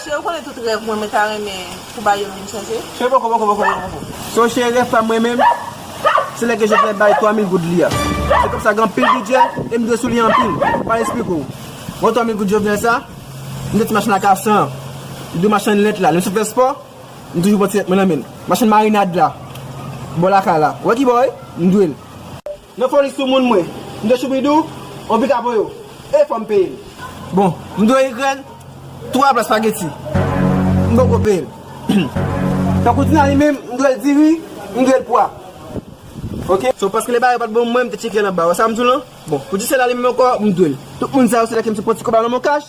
Cheri ou konnen tout rèv mwen mwen ta renmen pou Bayo vin chèche. Cheri poko poko poko poko poko. Son cheri rèv pam mwen menm se lè ke Jovenel bay 3000 goud li a. Se kòb sa gen anpil bidjè e m dwe sou li anpil. Ou pa esplike w. Bon 3000 goud Jovenel sa, m dwe ti machin a ka 100 an. M dwe machann lèt la. Lè m sot fè spò. M toujou pot sèt mwen nan menm. Machann marinad la bò lakay la. Ou wè ki bò wi? M dwe l. Nan foli sou moun mwen. M dwe choubidou on pita pou yo. E fò m peye l. Bon, m dwe igrèn twa pla spageti. M poko peye l. Tankou Tina li menm, m dwe l diri, m dwe l pwa. Ok. So paske lè bagay yo pat bon pou mwen, m te tcheke l anba. Ou wè sa m di w lan? Bon, pou ti sè la li menm ankò, m dwe l. Tout moun sa yo se lè ke m te pran ti kob la nan men w kach.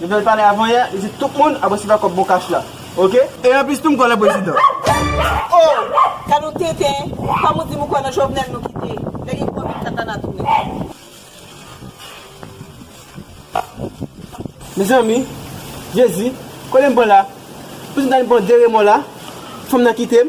Jovenel pale avan yè li di tout moun ap resevwa kòb bon kach la ok. E anplis tou m kwè nan prezidan. Oh! Ka nou tenten, kom ou dim ou kwè nan Jovenel nou kite, lè gen covid kaka na tounen. Mezanmi Jezi kotem pran la pouzm ta vin pran de remò la fanm nan kitem.